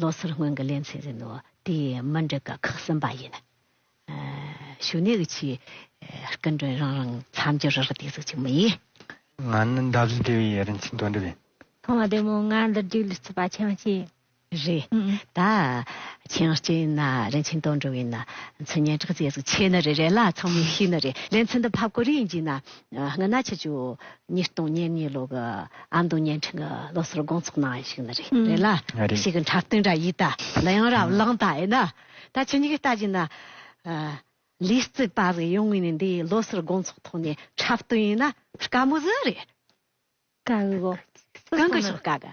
ལོ་སར་སྔོན་གྱི་ལན་ཚིག་ཟིན་ནོ། དེ་ཡི་མ་འགྲིག་ཀ་ཁག་གསུམ་པ་ཡིན། ཞུ་གནས་ཀྱི་ཆེད་སྐུ་མགྲོན་རང་རང་མཚམས་སྦྱོར་རག་བསྡད་ཟིག་ཅིག་མ་ཡིན། ང་ནི་འདབ་བཞི་སྡེ་བའི་རིན་ཆེན་དོན་གྲུབ་ཡིན། ཐོག་མ་དེ་མོ་ང་འདིར་བསྒྲིགས་ལུས་ཚུད་པ་ཆེན་མ་ཅི། རེད་ད། ཆེན་གཅིག་ཡིན་ན་རིན་ཆེན་དོན་གྲུབ་ཡིན་ན་མཚན་སྙན་གྲགས་མཛད་ཟིག་ཆེ་ན་རེ་རེ་ལ་ཚང་མས་ཤེས་ན་རེ་ལན་ཚིག་འདི་ཕབ་དགོས་རིགས་ཡིན་ཅིག་ན། སྔ་ན་ཆུ་ཆུ། ཉིས་སྟོང་ཉེར་གཉིས་ལོ་གི་ཨ་མདོ་བརྙན་འཕྲིན་གྱི་ལོ་སར་དགོང་ཚོགས་གནང་བ་ཞིག་ནི་རེད་རེད་ལ། རེད། ཞིག་གི་འཁྲབ་སྟོན་འདྲ་ཡིན་ད། ལ་ཡང་རབ་བླངས་ད་ཡིན་ན། ད་ཁྱེད་གཉིས་ཀྱིས་ལྟ་གྱིན་ན། ལིས་རྩིས་པ་རིགས་ཡོང་ངེས་ནི་འདི་ཡི་ལོ་སར་དགོང་ཚོགས་ཐོག་ནས་འཁྲབ་སྟོན་ཡིན་ན་དཀའ་མོ་ཟིག་རེད། དཀའ་གི། གང་གི་ཤོག་དཀའ་གི།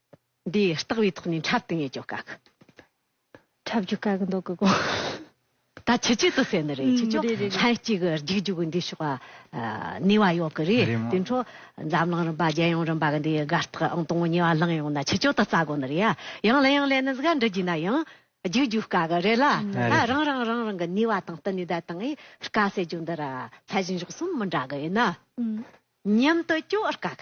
འདི་ལྟག་བའི་ཐོག་ནས་འཁྲབ་ཏུ་ངེས་ཀྱོ་བཀག། འཁྲབ་རྒྱུ་བཀག་འདོག་གི་དགོངས། ད་ཆུ་ཆུ་དུ་ཟེར་ནི་རེད་ཆུ་ཆུ་ལྷན་ཅིག་གི་རྒྱུག་རྒྱུག་གི་འདི་ཕྱོགས་ནུས་བ་ཡོད་གི་རེད་དེ་འཕྲོ་འཛམ་གླིང་རིམ་པ་རྒྱལ་ཡོངས་རིམ་པ་གི་འདི་དགའ་རྟགས་ཨང་དང་པོ་ཉེ་བ་ལངས་ཡོང་ན་ཆུ་ཆུ་དུ་རྩ་དགོ་ནི་རེད་ཡ་ཡང་ལན་ཡང་ལན་ནི་ཟིག་འདྲི་རྒྱུ་ན་ཡང་རྒྱུག་རྒྱུག་བཀག་གི་རེད་ལ་ད་རང་རང་རང་རང་གི་ནུས་བ་དང་བསྟུན་ནས་ད་དང་ཨི་བཀག་ཟེར་རྒྱུ་འདི་ར་ཚད་གཞི་མགྱོགས་གསུམ་མི་འདྲ་གི་ཡིན་ན་མཉམ་དུ་སྐྱོ་བར་བཀག།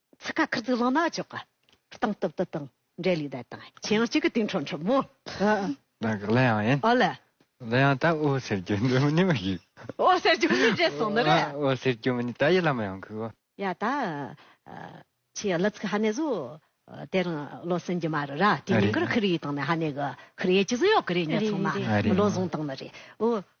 ཚིག་ཁ་ཁུ་ཚུར་བླངས་ན་ཆོག་གི། སྟངས་སྟབས་དུ་དང་འབྲེལ་ལུས་བསྡད་དང། ཁྱེད་ཡང་གཅིག་གི་དུས་འཕྲོ་འཕྲོ་མོ། ནང་གི་གླུ་དབྱངས་ཡིན། ཨོ་ལེ། གླུ་དབྱངས་ད་འོད་ཟེར་རྒྱུ་འདི་མི་ནི་མི་ཤེས། འོད་ཟེར་རྒྱུ་མི་ནི་རེད་སོང་ནི་རེད། འོད་ཟེར་རྒྱུ་མི་ནི་ད་ཡིད་ལ་མི་ཡོང་གི། ཡ་ད། ཁྱེད་གླུ་ཚིག་ཧ་ནས་བཟོ། དེ་རིང་བློ་སེང་རྒྱུ་མ་རུ་ར་དེ་ཉིན་གུ་རུ་ཁུ་རི་ཡིས་བཏང་ནས་ཧ་ནས་གི། ཁུ་རི་ཡས་ཅི་བཟོ་ཡོད་གི་རེད་ཉོས་ཚང་མ། མི་བློ་བཟང་བཏང་ནི་རེད།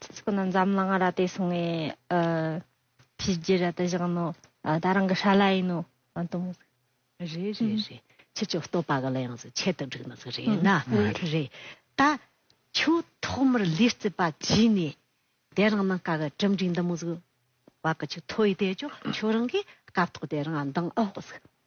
ཚིག་ཚིག་ནི་འཛམ་གླིང་ར་ཏི་སོང་ངའི་བྱས་རྗེས་ར་ཏི་བཞག་ནོ་ད་རང་གི་ཧྲ་ལ་ཡིན་ནོ་དུམ་བུ། རེ་རེ་རེ་ཁྱེད་ཀྱི་བསྟོད་པ་ག་ལ་ཡང་ཟིག་ཁྱད་དུ་བསྒྲིགས་ནི་ཟིག་རེད་ན་རེ། ད་ཁྱོད་ཐོག་མར་ལུས་རྩིས་པ་བྱས་ནས་དེ་རང་ནང་ཀ་གི་གྲུབ་འབྲིང་འདི་མོ་ཟིག་བ་ག་ཆུ་ཐོ་ཡི་དེ་ཅོ་ཁྱོད་རང་གིས་སྐབས་ཐོག་དེ་རང་འདང་ཨོ་ཟིག།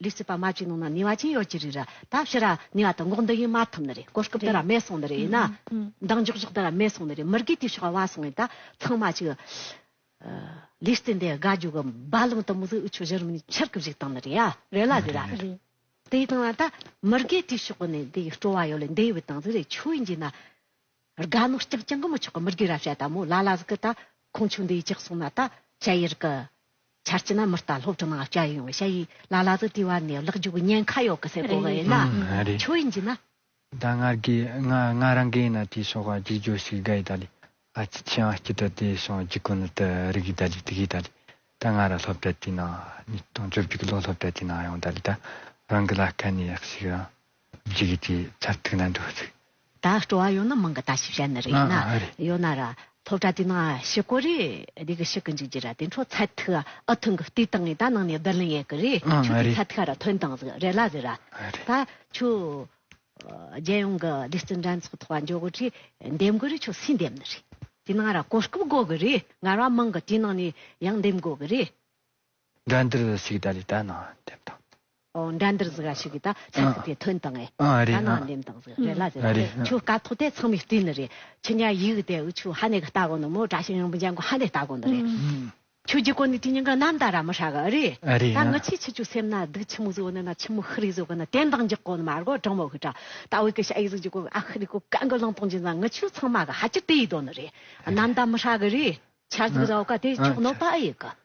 ལུས་སྲིད་པ་མ་ཅིག་ནང་ན་ནི་བ་ཅན་ཡོད་ཀྱི་རིགས་ར་ད་ཕྱི་ར་ནི་བ་དང་འགོག་འདི་ཡིན་མ་ཐུབ་ནི་རེད་གོ་སྐབས་འདི་ར་མེད་སོང་ནི་རེད་ན་མདངས་འཇོག་འཇོག་འདི་ར་མེད་སོང་ནི་རེད་མི་དགོས་དུས་ཞོག་བ་སོང་ཡིན་ད་ཚང་མ་ཅིག་ལུས་སྲིད་འདི་དགའ་རྒྱུ་གི་རྦ་ལང་དུ་མི་གཟིགས་འུ་ཆོ་གཞི་རིམ་ནི་ཕྱིར་གི་བཞུགས་སྟངས་ནི་རེད་ཡ་རེད་ལ་རེད་ར་རེད་དེ་ཡི་སྟངས་ན་ད་མི་དགོས་དུས་ཞོག་གི་ནི་འདི་ཡི་སྤྲོ་བ་ཡོད་ལ་འདི་ཡི་བའི་སྟངས་ཟིག་རེད་ཆོས་ཡིན་གྱི་ན། རྒ་ནོ་སྐྱག་ཅན་གི་མོ་ཆོག་གི་མི་རྒས་ར་བྱ་ད་མོ་ལ་ལ་ཟིག་གི་ད་ཁོང་ཆུ་འདི་ཡི་ཅག་སོང་ན་ད་བྱ་ཡི་རི་གི་ཆར་སྐྱི་ན་མི་རྟ་ལྷོ་བྲི་ནང་བྱ་ཡོང་བྱ་ཡི་ལ་ལ་ཟིག་དུས་བ་ནས་ལག་རྒྱུག་ཉན་ཁ་ཡོག་གི་སེ་གོ་གི་ཡིན་ན་ཆོ་ཡིན་གྱི་ན། ད་ང་རྒས་ང་ང་རང་གས་ཡིན་ན་དེ་སོག་ག་རྒྱུག་རྒྱོ་ཟིག་རྒ་ཡི་ད་ལི་ཨ་ཅི་ཆི་ཨང་སྐྱི་ད་དེ་སོང་རྒྱུག་གི་ནི་ད་རི་གི་ད་ལི་དི་གི་ད་ལི་ད་ང་ར་ལྷོ་བྲ་དེ་ནང་ཉིས་སྟོང་བཅོ་བརྒྱུག་གི་ལོ་ལྷོ་བྲ་དེ་ནང་ཡོང་ད་ལི་ད་རང་གི་ལ་སྐ་ནི་ཡག་ཟིག་རང། ཇི་གི་དེ་ཚར་ཐིག་ན་འདུག་ཚིག། ད་སྤྲོ་བ་ཡོད་ན་མང་གི་ད་ཞིབ་བྱ་ནི་རེད་ན་ཡོད་ན་ར་ཐོབ་གྲ་དེ་ན་ཞི་གོ་རེ་རེ་གི་ཞི་གི་འཇུག་རྒྱུ་ར་དེ་འཕྲོ་ཚར་ཐིག་ཨ་ཐུང་གི་ལྟོས་དང་ངས་ད་ནང་ནས་བསྡུར་ལེན་ཡས་གི་རེ་ཆུ་དེ་ཚར་ཐིག་ཨ་ར་ཐོན་དང་ཟིག་རེ་ལ་གི་ར་ད་ཆུ་རྒྱལ་ཡོངས་གི་སྡེ་བརྩི་འགྲན་ཚོགས་ཐོག་འཇོག་གི་རེ་འདེམས་གི་རེ་ཆུ་སུས་འདེམས་ནི་རེ་དེ་ན་ར་གོ་སྐབས་དགོ་གི་རེ་ངར་བ་མང་གི་དེ་ནང་ནས་ཡང་འདེམས་དགོ་གི་རེ། འདྲ་འདིར་ཞིག་གདའ་ལས་དད་ནང་འདེམས་དང། འདྲ་འདིར་ཟིག་ར་ཞིག་གིས་ད་ཚད་ཚིག་དེ་ཐོན་དང་ཨེ། དད་ནང་འདེམས་དང་ཟིག་རེ་ལ་ཟེར་བ་དེ་ཆུ་དཀའ་ཐོག་དེ་ཚང་མའི་བསྟི་ནི་རེད། ཆུ་ཉག་ཡིག་གི་དེ་འུ་ཆུ་ཧ་ནེ་གི་སྟ་གོ་ནི་མོ་བྲ་ཤིང་རིང་པོ་འཇམ་གོ་ཧ་ནེ་སྟ་གོ་ནི་རེད། ཆུ་རྒྱུ་གོ་ནི་དེ་ཉིན་ག་ནམ་ད་ར་མི་ཧྲ་གི་རེད། ད་ངི་ཆི་ཆི་ཆུ་སེམས་ན་སྡུག་ཆི་མུག་བཟོ་གི་ནི་ན་ཆི་མུག་ཧི་རི་བཟོ་གི་ནི་དད་འདང་རྒྱག་གོ་ནི་མ་རྒོ་གྲང་མོ་ཧི་ཀྲ། ད་འུ་གི་ཤ་ཡིག་ཟུག་རྒྱུ་གོ་ཨ་ཧི་རི་གོ་ག་འགུ་ལང་གཏོང་རྒྱུ་ན་ངི་ཆུ་ཚང་མ་གི་ཧ་ཅི་ཏི་ཡིག་དོ་ནི་རེད། ནམ་ད་མི་ཧྲ་གི་རེད། ཆར་ཟིག་ཟའོ་ག་དེ་ཆོག་ནོ་པ་ཨེ་ཡིག་གི།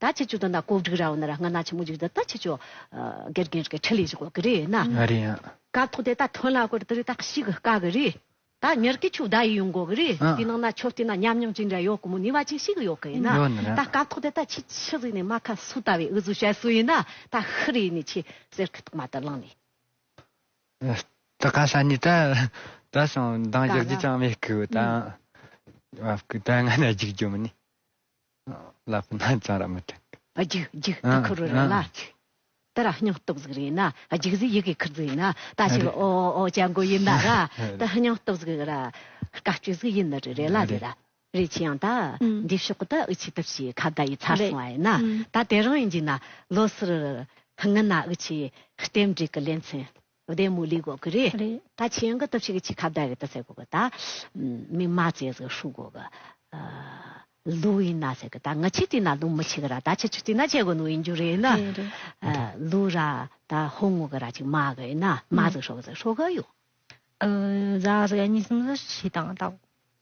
ད་ཁྱེད་ཅུ་དང་ད་ཀོག་འགྲིག་ར་བ་ན་ར་སྔ་ན་ཆ་མོ་འཇིག་ད་ད་ཁྱེད་ཅུ་གེར་གེར་གེར་ཁྲི་ལི་ཞིག་བ་གི་རེད་ན། ང་རེད་ཡ། ཀ་ཐོག་དེ་ད་ཐོན་ལ་གོ་རེད་ད་རེད་ད་ཤིག་གི་ཀ་གི་རེད། ད་ཉེར་གི་ཆུ་བདའ་ཡི་ཡོང་གོ་གི་རེད་དེ་ནང་ན་ཆོ་རྟེ་ན་ཉམས་མྱོང་ཅི་འདྲ་ཡོག་གི་མོ་ནི་བ་ཅིང་ཤིག་གི་ཡོག་གི་ཡིན་ན། ཡོག་ནི་ར། ད་ཀ་ཐོག་དེ་ད་ཁྱེད་ཆུ་རིག་ནི་མ་ཁ་སུ་ད་བའི་འུ་ཟུ་ཤ་སུ་ཡིན་ན་ད་ཤི་རི་ཡིན་ནི་ཁྱེད་གསེར་ཁི་ཐོག་མ་ད་ལང་ནི། ད་ཀ་ཤ་ནི་ད་ད་ཤིང་མདང་གཞག་རྒྱུ་ཅང་མེད་གི་ད། བ་བ་ཀི་ད་སྔ་ན་འཇིག་རྒྱུ་མི་ནི། ལ་ཕུ་ན་ཙང་ར་མི་ཐུག། རྒྱུག་རྒྱུག་ད་ཁུ་རུ་རི་ན་རྒྱུག། ད་ར་སྙིང་སྟོབས་ཟིག་རེད་ན་རྒྱུག་ཟིག་ཡི་གེ་ཁུར་ཟིག་ན་ད་ཕྱི་ལོ་ཨོ་ཨོ་ཨོ་ཅ་འགོ་ཡིན་ན་ར་ད་སྙིང་སྟོབས་ཟིག་ར་དཀའ་སྤྱོད་ཟིག་ཡིན་ནི་རེད་ལ་རེད་ལ་རེད་ཆི་ཡང་ད་འདི་ཕྱོགས་གི་ད་འུ་ཆི་ད་ཕྱི་ཁ་བརྡ་ཡི་ཚར་སོང་བ་ཡིན་ན་ད་དེ་རང་ཡིན་གྱི་ན་ལོ་སི་རི་རི་ངི་ན་འུ་ཆི་རྟེན་འབྲེལ་གི་ལེ་ཚན། བུ་དེ་མུ་ལི་གོ་གི་རེད། ད་ཁྱེད་རང་གི་སྟོབས་ཤིག་གི་ཁྱི་ཁ་བརྡ་རེད་ད་ཟེར་གོ་གི་ད། མི་མ་བཙལ་ཟེར་ཧྲུག་གོ་གི། ལུག་ཡིན་ན་ཟེར་གི་ད་ང་ཁྱི་བཏིང་ན་ལུག་མི་ཁྱི་གི་ར་ད་ཁྱི་ཆུ་བཏིང་ན་ཁྱི་གོ་ནུག་ཡིན་རྒྱུ་རེད་ན། ལུག་ར་ད་ཧོ་ངོ་གི་ར་ཅིག་མ་གི་ཡིན་ན་མ་ཟེར་ཧྲོ་གི་ཟེར་ཧྲོ་གི་ཡོད། ར་ཟེར་ག་གཉིས་སམ་ཟེར་བཞི་དང་ལྟ་གོ།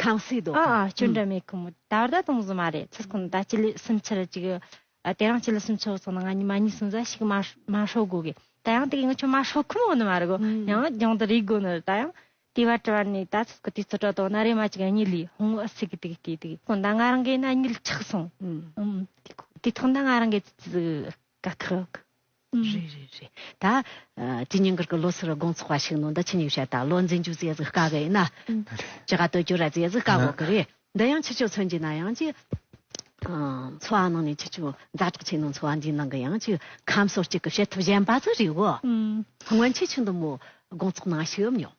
ཁང་སའི་སྡོད་ཁང། སྐྱོན་བྲལ་མེད་གི་མོད། ད་བར་ད་དུང་བཟོ་མ་རེད། ཚུར་ཁོ་ནས་ད་སྤྱི་ལོའི་སུམ་ཆར་ཅིག་དེ་རང་སྤྱི་ལོའི་སུམ་ཆུ་སོང་ན་ང་གཉིས་མ་གཉིས་སུམ་ཟ་ཞིག་མ་མ་ཧྲོག་དགོས་གི། ད་ཡང་དེ་གི་ང་ཆོ་མ་ཧྲོག་ཁུ་མོ་ནི་མ་རེད་གོ། ཡང་རྒྱང་དུ་རིག་དགོས་ནི་རེད་ད་ཡང། དེ་བ་དྲི་བ་ནི་ད་ཚུར་ཁུ་དེ་ཚོ་དྲོ་དོ་ན་རེ་མ་ཅིག་ཨ་ཉི་ལིས་ཧོང་ཨ་སི་གི་དེ་གི་དེ་དེ་གི། ཁོ་ན་ང་རང་གི་ན་ཨ་ཉི་ལི་ཆག་སོང། དེ་ཐོག་ན་ང་རང་གི་ཙི་ཙི་ཟིག། དགའ་ཐུག། རེད་རེད་རེད། ད། ཇི་སྙིང་གར་གི་ལོ་སར་དགོང་ཚོགས་པ་ཞིག་ནང་འདི་ཆིན་ཡིག་བཤད་དང་ལོ་འཛིན་རྒྱུ་ཟས་ཟིག་དཀའ་གི་ཡིན་ན། ཇི་ག་སྟོད་གྱུར་ར་ཟས་ཟིག་དཀའ་གོ་གི་རེད། འདི་ཡང་ཕྱི་ཕྱོགས་ཚོན་གྱི་ན་ཡང་ཅིག། འཚོ་བ་ནང་ནས་ཕྱི་ཕྱོགས་མཛའ་གྲགས་ཆེ་ནང་འཚོ་བ་འདིའི་ནང་གི་ཡང་ཅིག་ཁམས་སོ་གཅིག་གི་བྱེད་ཐབས་གཞན་པ་ཟིག་རེད་གོ། སྔོན་ཆད་ཆུ་འདི་མོ་དགོང་ཚོགས་ནང་ཞིག་ཡོད་མྱོང།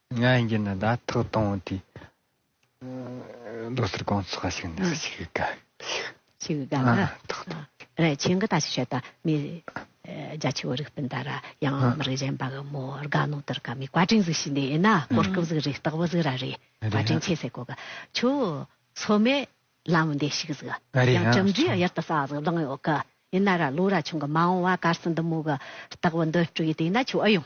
ང་ཡིན་གྱི་ནི་ད་ཐག་དང་བོ་དེ་ལོ་སར་གང་ཚགས་ཤིག་ནས་ཤིག་གི་ག་ཤིག་གི་ག་ང་ཐག་དང་རེ་ཆེན་གི་ད་ཤིག་བྱེད་ད་མི་རྒྱ་ཆེ་བོ་རིག་སྤུན་ད་ར་ཡང་མི་རིག་གཞན་པ་གི་མོ་རྒ་ནོ་དེར་ག་མི་བཀའ་དྲིན་ཟིག་ཤིག་ནས་ན་གོ་སྐབས་ཟིག་རེ་རྟག་པོ་ཟིག་ར་རེ་བཀའ་དྲིན་ཆེ་ཟེ་གོ་ག་ཆུ་ཚོ་མེ་ལམ་འདས་ཤིག་ཟིག་ཡང་ཅམ་འདྲི་ཡར་ད་ས་ཟིག་བདང་ཡོད་གི་ཡིན་ན་ར་ལོ་ར་ཆུང་གི་མ་འོང་བ་གར་སི་འདི་མོ་གི་རྟག་པོ་འདི་སྤྲུག་ཡི་དེ་ཡིན་ན་ཆུ་ཨུ་ཡོང།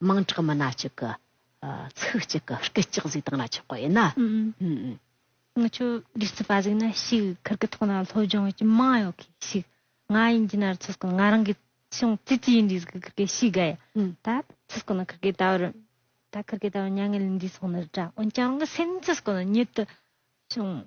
དམངས་ཁྲག་མི་སྣ་གཅིག་གི་ཚིག་གཅིག་གི་སྐད་ཅིག་གཟིགས་སྟངས་ལ་ཆགས་པ་ཡིན་ན། ང་ཚོས་རྒྱུ་མཚན་པ་གཟིགས་ན་ཞིག་ཁུར་གི་ཐོག་ན་སློབ་སྦྱོང་ཡོད་ཀྱི་མང་ཡོད་གི་ཞིག་ང་ཡིན་གྱི་ན་རུ་ཚོས་ཀྱང་ང་རང་གི་ཅུང་ཙི་ཙི་ཡིན་དུས་གཟིགས་ཀྱི་ཁུར་གི་ཞིག་ག་ཡ་ད་ཚོས་ཀྱང་ན་ཁུར་གི་ད་བར་ད་ཁུར་གི་ད་བར་མྱ་ངན་ལས་འདས་སོང་ནི་རེད་འོན་ཀྱང་རང་གི་སེམས་ཚོས་ཀྱང་ན་ཉིད་དུ་ཅུང།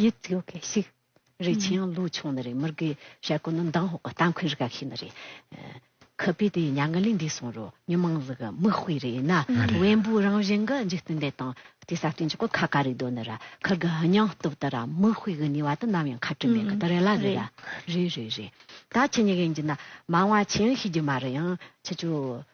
ཡིད་སྐྱོ་གེ་ཞིག་རེད་ཆེ་ཡང་ལོ་ཆུང་ནི་རེད་མི་རིགས་ཀྱི་བྱ་གོ་ནི་མདང་ཧོག་གི་རྟ་མཁོན་རི་ག་ཞིག་ནི་རེད། ཁུ་བུས་དེ་ཉག་ང་ལས་འདས་སོང་རུ་མྱི་མང་ལུག་གི་མིག་དཔེ་རེད་ན་བེམ་པོའི་རང་བཞིན་གི་འཇིག་རྟེན་འདི་དང་དེ་ས་སྟེང་གི་གོ་ཁ་ག་རེ་དོ་ནི་ར་ཁུར་གི་སྙིང་སྟོབས་དེ་ར་མིག་དཔེ་གི་ནུས་བ་དེ་ནམ་ཡང་ཁ་བྲུ་མེད་གི་དེ་རེད་ལ་རེད་རེད་རེད་རེད་ད་ཁྱི་ཉི་ག་ཡིན་གྱི་ན་མང་བ་ཆེ་ཡང་ཤི་རྒྱུ་མ་རེད་ཡང་ཁྱི་ཆུ་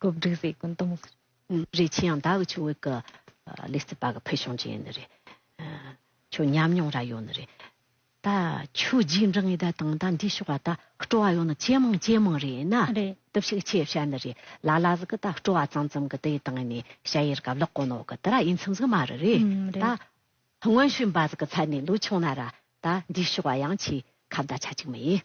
གོ་བསྒྲིག་བཟོས་ཀུན་གཏོང་མི་ཁུར། རིགས་ཆེ་ཡང་ད་འུ་ཆོས་བོད་ཀྱི་ལི་རྩེ་པ་གི་ཕུལ་བྱུང་ཅན་ནི་རེད། ཁྱོད་ཉམས་མྱོང་ར་ཡོད་ནི་རེད། ད་ཁྱོད་རྗེས་འབྲང་ཡི་ད་དང་ད་འདི་ཤོག་བ་ད་སྤྲོ་བ་ཡོད་ནི་ཇེ་མང་ཇེ་མང་རེད་ན། རེད། དུ་ཕྱུག་ཆེ་བྱ་ནི་རེད། ལ་ལ་ཟིག་གི་ད་སྤྲོ་བ་ཙམ་ཙམ་གི་དེ་ཡི་དང་ནི་བྱ་ཡི་རི་ག་བརླག་གོ་ནོ་གི་དེ་ར་ཡིན་ཚུམ་ཟིག་མ་རི་རེད། ད་སྔོན་ཤུན་པ་ཟིག་གི་ཚ་ནི་ལུག་ཆུང་ན་ར་ད་འདི་ཤོག་བ་ཡང་ཆེ་ཁ་བརྡ་ཆ་ཅིག་མི་ཡིན།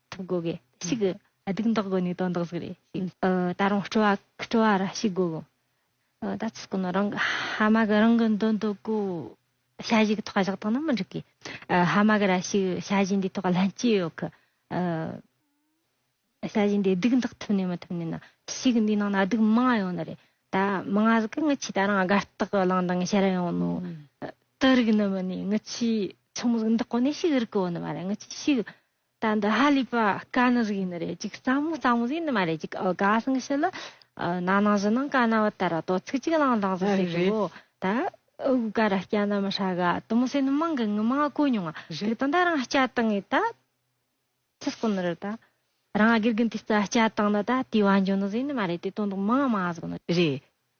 ཐུབ་དགོས་གི་ཞིག་གི་སྡུག་མདག་དགོས་ནས་དོན་དག་ཟིག་རེད་ཞིག་ད་རུང་སྤྲོ་བ་སྤྲོ་བ་ར་ཞིག་དགོས་གི་ད་ཚུགས་ཀྱི་ནོ་རང་ཧ་མ་གི་རང་གི་འདོན་དུ་གོ་བྱ་བཞི་གི་ཐོག་བཞག་ཐོག་ན་མི་འགྲིག་གི་ཧ་མ་གི་ར་ཞིག་བྱ་བཞི་འདི་ཐོག་ལྷན་སྐྱེས་ཡོད་གི་བྱ་བཞི་འདི་སྡུག་མདག་ཐུབ་ནས་མི་ཐུབ་ནས་ན་ཞིག་འདི་ནང་ན་སྡུག་མང་ཡོད་ནི་རེད་ད་མང་ང་ཟིག་གི་ངི་ཆི་ད་རང་དགའ་རྟག་གི་ལང་དང་ཤར་ཡོང་ནོ་དུ་རིག་ནི་མི་ནི་ངི་ཆི་ཆུང་མོ་ཟིག་འདི་གོ་ནས་ཞིག་རིག་གི་ཡོད་ནི་མ་རེད་ངི་ཆི་ཞིག་ད་འདི་ཧ་ལས་པ་དཀའ་ནི་རིགས་ཡིན་ནི་རེད་ཅིག་རྩ་མོ་རྩ་མོ་ཟེར་ནི་མ་རེད་ཅིག་ཨོ་དགའ་སང་ཤི་ལི། ན་ནང་བཞི་ནང་དཀའ་ན་བ་དར་བ་དོ་ཚིག་ཅིག་བླང་བླང་ཟེར་ཟེར་གི་བོ་ད་ཨོ་གུ་ག་ར་སྐྱ་ན་མི་ཧྲ་ག་དུ་མོ་ཟེར་ནི་མང་གི་ངི་མང་གོ་མྱོང་ང་རིག་དང་ད་རང་སྐྱ་དང་ངི་ད། ཚིག་སྐོ་ནི་རི་ད། རང་དགེ་རྒན་དེ་རྩ་སྐྱ་དང་ན་ད་དེ་བ་འཇོན་ནི་ཟེར་ནི་མ་རེད་དེ་དོན་དུ་མང་མང་ཟོ་ནི་རེད།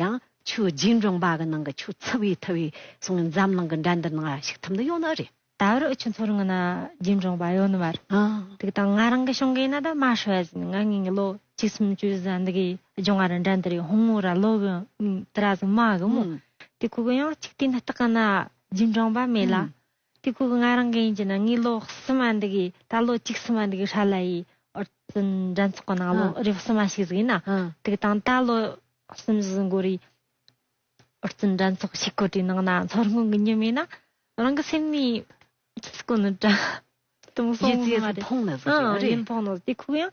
ཡང། ཆུ་རྒྱུན་རྫོང་པ་གི་ནང་གི་ཆུ་ཚི་བའི་ཐི་བའི་སོང་ངས་འཛམ་གླིང་གི་འགྲན་སྡུར་ནང་ལ་ཞུགས་ཐུབ་འདི་ཡོང་ནི་རེད། ད་བར་ཨུ་ཆུ་མཚོ་རིང་གི་ན་རྒྱུན་རྫོང་པ་ཡོ་ནི་མར། དུག་དང་ང་རང་གི་ཞང་གིས་ན་ད་མ་ཧྲི་བ་ཟིན་ང་ངིན་གི་ལོ་གཅིག་སུམ་ཅུ་བཟའ་འདི་གི་ལྗོང་ང་རི་འགྲན་འདི་རི་ཧུང་ངུ་ར་ལོ་གི་ནི་དི་ར་ཟིན་མ་གི་མོ། དི་ཁུ་གི་ཡང་གཅིག་དེ་ནི་སྟག་གི་ན་རྒྱུན་རྫོང་པ་མེད་ལ། དུས་སྐུ་ལྔ་རང་གི་ཡིན་གྱི་ནང་ངའི་ལོ་གསུམ་མ་འདུག་གི་ད་ལོ་གཅིག་གསུམ་མ་འདུག་གི་ཧྲ་ལ་ཡི་ཨོར་ཙི་འགྲན་ཚོགས་ཀྱི་ནང་ལོ་རེ་བ་གསུམ་མ་ཞིག་ཟིག་ཡིན་ན་དུག་དང་ད་ལོ་གསུམ་བཞི་འགོར་ཡི་ཨོར་ཙི་འགྲན་ཚོགས་ཞིག་གོ་དྲའི་ནང་ན་ཚོར་སྔོན་གྱི་ཉིན་མེད་ན་རང་གི་སེམས་ནི་ཅི་ཞིག་གོ་ནི་དྲ་དུམ་སོང་ཡིན་ན་རེད་ཡིན་ཕོག་ནོ་དུས་སྐུ་ཡང་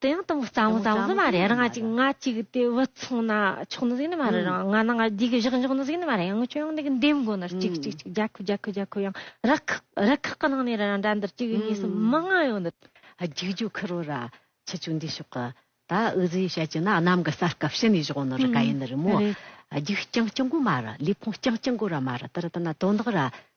དེང་དང་རྩ་མོ་རྩ་མོ་མ་རེད་རང་གཅིག་ང་གཅིག་དེ་བུ་ཚང་ན་ཆོག་ནི་ཟིག་ནི་མ་རེད་རང་ང་ནང་ང་རྒྱུག་བཞག་འཇོག་ནི་ཟིག་ནི་མ་རེད་ཡང་ཁྱོད་ཡང་འདི་འདེམས་དགོ་ནི་གཅིག་གཅིག་གཅིག་རྒྱ་ཁུ་རྒྱ་ཁུ་རྒྱ་ཁུ་ཡང་རི་ཁག་རི་ཁག་གི་ནང་ནས་རང་འདྲ་འདིར་གཅིག་གཉིས་གསུམ་མི་ལྔ་ཡོང་ནི། རྒྱུག་རྒྱུག་ཁུར་བོ་ར་ཆུ་ཆུ་འདི་ཤོག་གི་ད་འུ་ཟི་ཡིས་བཤད་ཀྱི་ན་གནམ་གི་སར་སྐབས་ཕྱི་ནས་བཞོག་ནི་རི་ག་ཡིན་ནི་རི་མོ་རྒྱུག་རྐྱང་རྐྱང་དགོ་མ་རེད་ལུས་ཕུང་རྐྱང་རྐྱང་དགོ་ར་མ་རེད་དེར་ལྟ་ན་དོ་འདག་ར་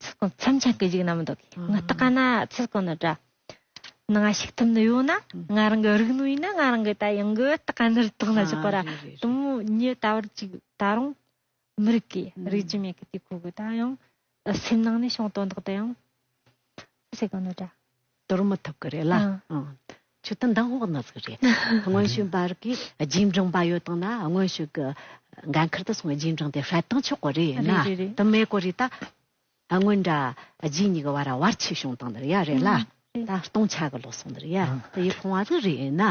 ཚིག་གོང་མཚམས་ཆང་གི་རིགས་རྣམས་འདོགས། ངག་རྟགས་ཀ་ན་ཚིག་གོང་ནི་སྒྲ། ནང་ང་ཞིག་ཐུབ་ནི་ཡོད་ན། ང་རང་གི་རིགས་ནོར་ཡིན་ན་ང་རང་གི་ད་ཡང་གི་རྟགས་ཀ་ནི་རི་དྭགས་ན་ཆགས་པ་ར། དུམ་བུ་གཉིས་ད་བར་གཅིག་ད་རུང་མི་རིགས་ཀྱི་རིགས་ཀྱི་མེད་གི་དུས་ཁོ་གི་ད་ཡང་སེམས་ནང་ནས་ཤོང་དོན་དག་ད་ཡང། ཚིག་གོང་ནི་སྒྲ། དོར་མི་ཐུབ་ཀི་རེད་ལ། ཆུ་དང་མདང་དབོག་ནགས་ཟིག་རེད། དངོས་བྱུང་བར་གི་རྗེས་འབྲང་བ་ཡོད་དང་ན་དངོས་བྱུང་གི་འགན་ཁུར་དུ་སོང་བའི་རྗེས་འབྲང་དེ་ཧྲལ་དང་ཆོག་གི་རེད་ན་དུ་མེད་ཀི་རེད་ད། དངོས་འདྲ་རྗེས་གཉིས་ཀི་བར་བར་ཆད་བྱུང་དང་ནི་ཡ་རེད་ལ། ད་སྟོང་ཆ་གི་ལོ་སོང་ནི་ཡ་དེ་ཡི་ཕོང་བ་ཟིག་རེད་ན།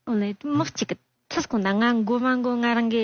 དངོས་ནི་མི་གཅིག་གི་ཚུར་སྐོང་ན་ང་མགོ་མ་མགོ་ང་རང་གི།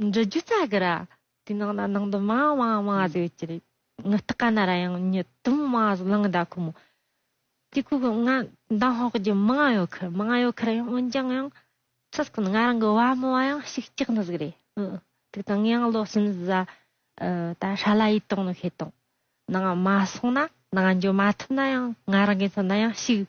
འབྲི་རྒྱུ་རྩ་དགུ་ར། དེའི་ནང་ན་ནང་དུ་མ་མ་མ་ཟེར་བའི་ཅི་རེད། ངི་སྟག་ག་ན་ར་ཡང་ཉི་དུམ་མ་ཟེར་གླང་ཟླ་ཁོ་མོ། དེ་ཁོ་གི་ང་མདང་ཧོག་རྒྱུ་མ་ང་ཡོད་ཁར་མ་ང་ཡོད་ཁར་ཡང་འོན་ཀྱང་ཡང། ཚུར་ཁོ་ནི་ང་རང་གི་བ་མོ་བ་ཡང་ཞིག་གཅིག་ནི་ཟིག་རེད། ཨི་ཨི། དེ་ང་ཡང་བློ་བསམ་བཟའ། ད་ཧྲ་ལ་ཡིད་གཏོང་ནི་ཤེས་དང། ནང་མ་སོང་ན་ནང་འགྱོ་མ་ཐུབ་ན་ཡང་ང་རང་གི་མཚོན་ན་ཡང་ཞིག།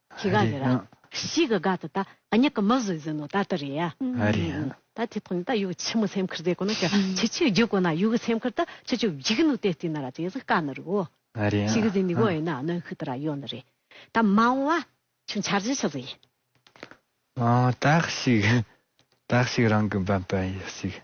ཁྱི་ག་ཡོད་ར། ཤི་ག་ག་ད་ད་ཨཉི་ཀ་མི་བཟོད་བཟོད་ནོ་ད་ད་རེད་ཡ། ཨ་རེད་ཡ། ད་དེ་ཐོག་ནས་ད་ཡུག་ཆི་མོ་སེམས་ཁུར་ཟེ་གོ་ན་ཀྱ་ཆི་ཆི་རྒྱུག་གོ་ན་ཡུག་གི་སེམས་ཁུར་ད་ཆི་ཆི་བརྒྱུག་ནུ་དེ་ཏི་ན་ར་ཏི་ཟི་ཀ་ན་རུ་ཨོ། ཨ་རེད་ཡ། ཤི་གི་ཟི་ནི་གོ་ཨེ་ན་ཨ་ནོན་ཁུ་ད་ར་ཡོ་ན་རེད། ད་མ་འོང་བ་ཆུ་འཆར་ཆི་ཆི་ཟི། ཨོ་ད་ཤི་གི་ད་ཤི་གི་རང་གི་འབད་འབད་ཡི་ཤི་གི།